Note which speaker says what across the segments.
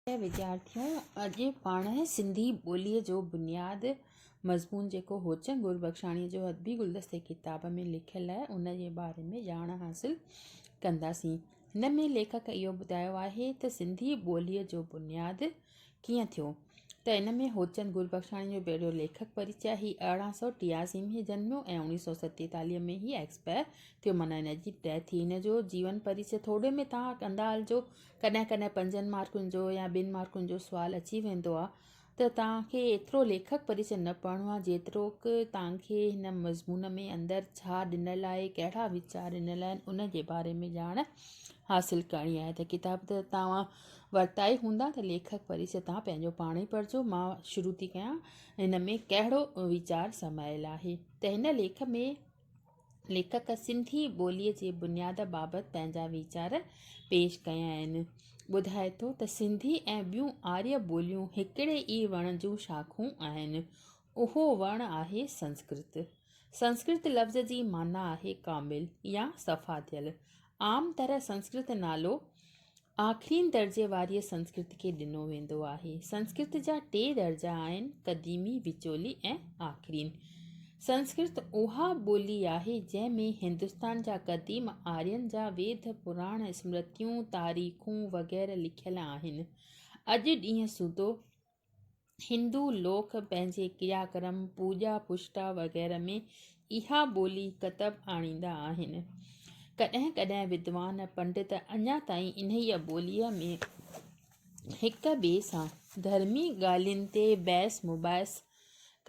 Speaker 1: پريا وڌيارٿيو اڄ پاڻ سنڌي ٻولي جو بنياد مضمون جيڪو هوچنگ گربخشاڻي جو ادبي گلدستي ڪتاب ۾ لکيل آهي ان جي باري ۾ ڄاڻ حاصل ڪنداسين هن ۾ ليکڪ اهو ٻڌايو آهي ته سنڌي ٻولي جو بنياد ڪيئن ٿيو ته ان ۾ هوچند گربخشاڻي جو پهريو ليکڪ پريچي آهي هي ارڙهن سو ٽياسي ۾ هي جنميو ۽ اوڻيهه سو ستيتاليهه ۾ هي ايڪسپائر ٿيو معنيٰ هن جي ڊيٿ ٿي هن جو جيون پريچي ٿوري ۾ تان ڪندا هلجو ڪڏهن ڪڏهن پنجن مارڪن جو يا ٻن مارڪن جو سوال اچي ويندو آهي ته توهان کي ايترو ليکڪ پريچي نه پڙهڻو آهي جيتروڪ توهان کي هن مضمون ۾ اندر ڇا ڏنل آهي ڪهڙا ويچار ڏنل آهن ان جي باري ۾ ڄاڻ حاصل ڪرڻي آهي ته ڪتاب ته توهان ورتا ئي هوندا ته ليکڪ پريچي توهان پنهنجو پاڻ ئي پڙهجو مان شروع ٿي ڪيان هن ۾ ڪهڙو ويچار سمايل آهي ته هن ليک ۾ ليکڪ سنڌي ٻوليء جي بنياد بابت پنهنجا ويچار پيش ڪيا آهن. ٻڌائي ٿو ته سنڌي ۽ ٻيون آريه ٻوليون هڪڙي ئي وڻ جون شاخون آهن. اهو وڻ آهي سنسڪرت. سنسڪرت لفظ جي معنيٰ آهي ڪامل يا صفا ٿيل. عام طرح سنسڪرت نالو آخرين درجي واريء سنسڪرت کي ڏنو ويندو آهي. سنسڪرت جا ٽي درجا آهن، قديمي، وچولي ۽ آخرين. سنسڪرت اها ٻولي آهي، جنهن ۾ هندستان جا قديم آرين جا ويد، پراڻ، اسمرتيون، تاريخون وغيره لکيل آهن. اڄ ڏينهن سوڌو هندو لوڪ پنهنجي ڪريا ڪرم، پوڄا پشٽا وغيره ۾ اها ٻولي ڪتب آڻيندا آهن. ڪڏهن ڪڏهن ودوان پنڊت اڃا تائين انهيء ٻوليء ۾ هڪ ٻئي سان ڌرمي ڳالهين تي بحث مباحث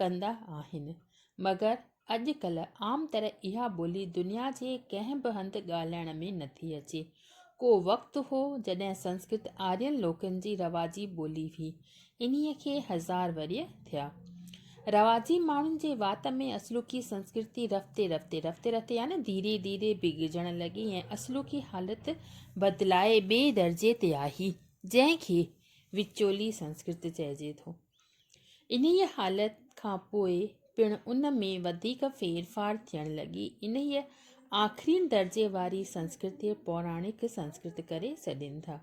Speaker 1: ڪندا آهن، مگر اڄڪلهه عام طرح اها ٻولي دنيا جي ڪنهن به هنڌ ڳالهائڻ ۾ نٿي اچي. ڪو وقت هو جڏهن سنسڪرت آرين لوڪن جي رواجي ٻولي هئي. انهيء کي هزار ورهيه ٿيا. رواجي ماڻهن جي وات ۾ اصلوڪي سنسڪرتي رفتي رفتي، رفتي رفتي يعني ڌيري ڌيري بگڙجڻ لڳي ۽ اصلوڪي حالت بدلائي ٻئي درجي تي آهي، جنهن کي وچولي سنسڪرت چئجي ٿو. انهيء حالت کان پوء پڻ ان ۾ وڌيڪ ڦير ڦار ٿيڻ لڳي. انهيء آخرين درجي واري سنسڪرت کي پوراڻڪ سنسڪرت ڪري سڏين ٿا.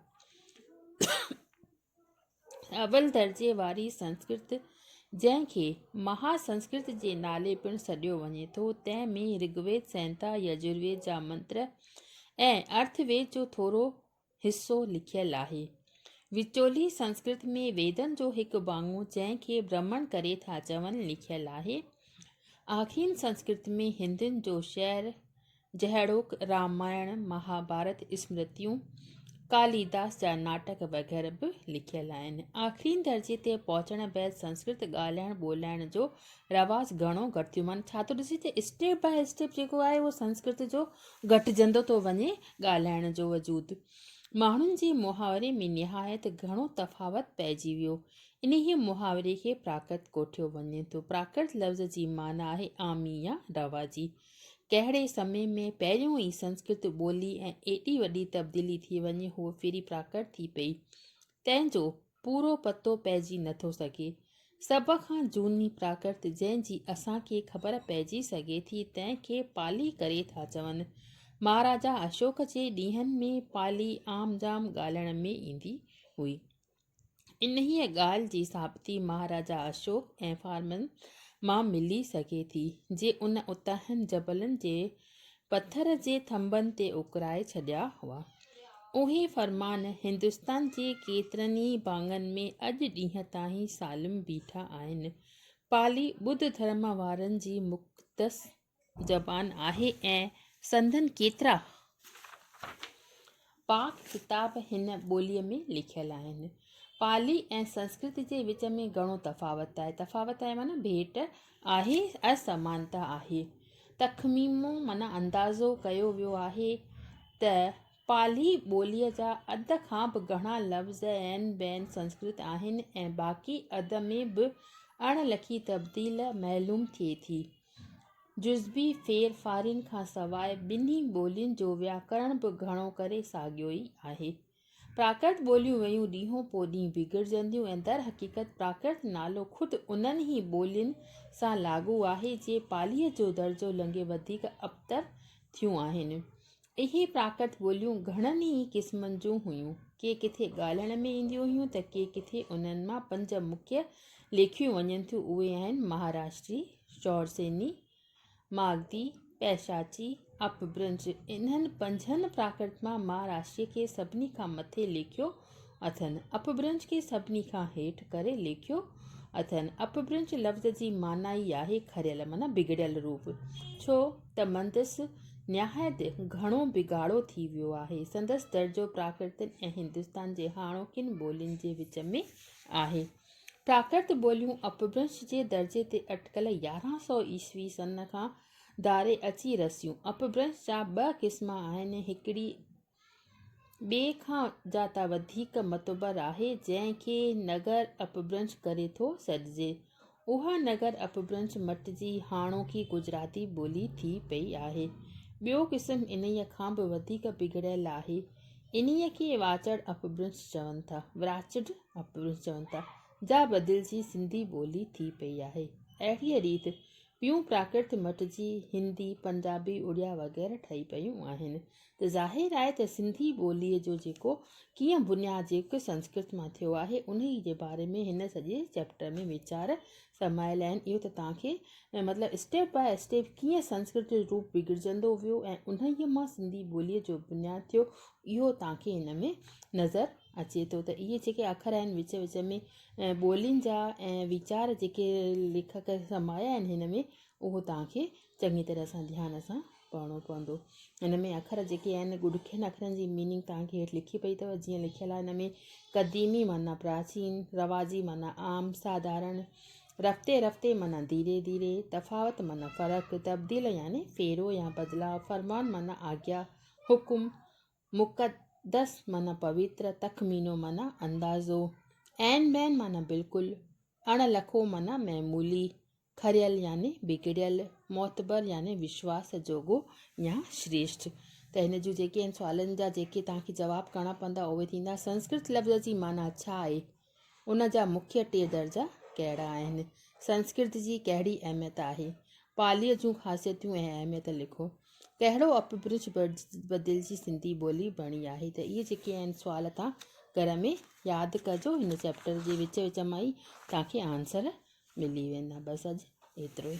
Speaker 1: اول درجي واري سنسڪرت، جنهن کي مها سنسڪرت جي نالي پڻ سڏيو وڃي ٿو، تنهن ۾ رگ ويد، سنهتا، يجر ويد جا منتر ۽ ارٿ ويد جو ٿورو حصو لکيل آهي. وچولي سنسڪرت ۾ ويدن جو هڪ ڀاڱو جنهن کي برهمڻ ڪري ٿا چون لکيل آهي. آخين سنسڪرت ۾ هندين جو شعر جهڙوڪ رامائڻ، مهاڀارت، اسمرتيون، ڪاليداس جا ناٽڪ وغيره به لکيل آهن. آخرين درجي تي پهچڻ بعد سنسڪرت ڳالهائڻ ٻولهائڻ جو رواج گهڻو گهٽ ٿيو معنيٰ ڇا ٿو ڏسي ته اسٽيپ باء اسٽيپ جيڪو آهي اهو سنسڪرت جو گهٽجندو ٿو وڃي ڳالهائڻ جو وجود ماڻهن جي محاوري ۾ نهايت گهڻو تفاوت پئجي ويو انهيء محاوري کي پراڪرت ڪوٺيو وڃي ٿو پراڪرت لفظ جي معنيٰ آهي عامي يا رواجي ڪهڙي سمي ۾ پهريون ئي سنسڪرت ٻولي ۽ ايڏي وڏي تبديلي ٿي وڃي هوء ڦري پراڪرت ٿي پئي تنهن جو پورو پتو پئجي نه ٿو سگهي. سڀ کان جهوني پراڪرت جنهن جي اسان کي خبر پئجي سگهي ٿي تنهن کي پالي ڪري ٿا چون. مهاراجا اشوڪ جي ڏينهن ۾ پالي عام جام ڳالهڻ ۾ ايندي هئي. انهيء ڳالهه جي ثابتي مهاراجا اشوڪ ۽ فارمن مان ملي سگهي ٿي جي ان اتاهين جبلن جي پٿر جي ٿنڀن تي اڪرائي ڇڏيا هئا. اهي فرمان هندستان جي ڪيترن ئي ڀاڱن ۾ اڄ ڏينهن تائين سالم بيٺا آهن. پالي ٻڌ ڌرم وارن جي مقدس زبان آهي ۽ سندن ڪيترا. پاڪ ڪتاب هن ٻوليء ۾ لکيل آهن. پالي ۽ سنسڪرت جي وچ ۾ گهڻو تفاوت آهي. تفاوت آهي معنيٰ ڀيٽ آهي، اسمانتا آهي. تخميمو معنيٰ اندازو ڪيو ويو آهي ته پالي ٻوليء جا اڌ کان به گهڻا لفظ عين بعين سنسڪرت آهن ۽ باقي اڌ ۾ به اڻ لکي تبديل معلوم ٿئي ٿي. جزوي ڦير ڦارين کان سواء ٻنهي ٻولين جو وياڪرڻ به گهڻو ڪري ساڳيو ئي آهي. پراڪرت ٻوليون ويون ڏينهون پوء ڏينهن بگڙجنديون ۽ در حقيقت پراڪرت نالو خود انهن ئي ٻولين سان لاڳو آهي جي پاليء جو درجو لنگهي وڌيڪ ابتر ٿيون آهن. اهي پراڪرت ٻوليون گهڻن ئي قسمن جون هيون. ڪي ڪٿي ڳالهائڻ ۾ اينديون هيون ته ڪي ڪٿي. انهن مان پنج مکيه ليکيون وڃن ٿيون اهي آهن، مهاراشٽري، شورسيني، ماگڌي، پئشاچي، اپڀرنش. انهن پنجن پراڪرت مان مهاراشٽري کي سڀني کان مٿي ليکيو اٿن، اپڀرنش کي سڀني کان هيٺ ڪري ليکيو اٿن. اپڀرنش لفظ جي معنيٰ ئي آهي کريل معنيٰ بگڙيل روپ. ڇو ته مندس نهايت گهڻو بگاڙو ٿي ويو آهي. سندس درجو پراڪرتن ۽ هندستان جي هاڻوڪين ٻولين جي وچ ۾ آهي. پراڪرت ٻوليون اپڀرنش جي درجي تي اٽڪل يارهن سؤ عيسوي سن کان ڌاري اچي رسيون. اپڀرنش جا ٻه قسم آهن، هڪڙي. ٻئي کان زياده وڌيڪ معتبر آهي جنهن کي نگر اپڀرنش ڪري ٿو سڏجي. اها نگر اپڀرنش مٽ جي هاڻوڪي گجراتي ٻولي ٿي پئي آهي. ٻيو قسم انهيء کان به وڌيڪ بگڙيل آهي. انهيء کي واچڙ اپڀرنش چون ٿا، Wrached Apbrinsh، چون ٿا، جا بدلجي سنڌي ٻولي ٿي پئي آهي. اهڙيء ريت ٻيون پراڪرت مٽ جي هندي، پنجابي، اڙيا وغيره ٺهي پيون آهن. ته ظاهر آهي ته سنڌي ٻوليء جو جيڪو ڪيئن بنياد جيڪو سنسڪرت مان ٿيو آهي، انهيء جي باري ۾ هن سڄي چئپٽر ۾ ويچار سمايل آهن. اهو ته توهان کي مطلب اسٽيپ باء اسٽيپ ڪيئن سنسڪرت جو روپ بگڙجندو ويو ۽ انهيء مان سنڌي ٻوليء جو بنياد ٿيو، اهو توهان کي هن ۾ نظر اچي ٿو ته اهي جيڪي اکر آهن وچ وچ ۾ ٻولين جا ۽ ويچار جيڪي ليکڪ سمايا آهن هن ۾ اهو توهان کي چڱي طرح سان ڌيان سان پڙهڻو پوندو هن ۾ اکر جيڪي آهن ڏکين اکرن جي ميننگ توهان کي هيٺ لکي پئي اٿو جيئن لکيل آهي هن ۾ قديمي معنيٰ پراچين رواجي معنيٰ عام ساڌارڻ رفتي رفتي معنيٰ ڌيري ڌيري تفاوت معنيٰ فرق تبديل يعني ڦيرو يا بدلاء فرمان معنيٰ آجيا حڪم مقدس معنيٰ پويتر تخمينو معنيٰ اندازو عين بين معنيٰ بلڪل اڻ لکو معنيٰ معمولي کريل يعني بگڙيل، معتبر يعني وشواس جوڳو يا شريشٽ. ته هن جون جيڪي آهن سوالن جا جيڪي توهان کي جواب ڪرڻا پوندا اهي ٿيندا، سنسڪرت لفظ جي معنيٰ ڇا آهي؟ ان جا مکيه ٽي درجا ڪهڙا آهن؟ سنسڪرت جي ڪهڙي اهميت آهي؟ پاليء جون خاصيتون ۽ اهميت لکو. ڪهڙو اپ برج بدلجي سنڌي ٻولي بڻي آهي ته اهي جيڪي آهن سوال توهان گهر ۾ ياد ڪجو هن چيپٽر جي وچ وچ مان ئي توهان کي آنسر ملي ويندا بس اڄ ايترو ئي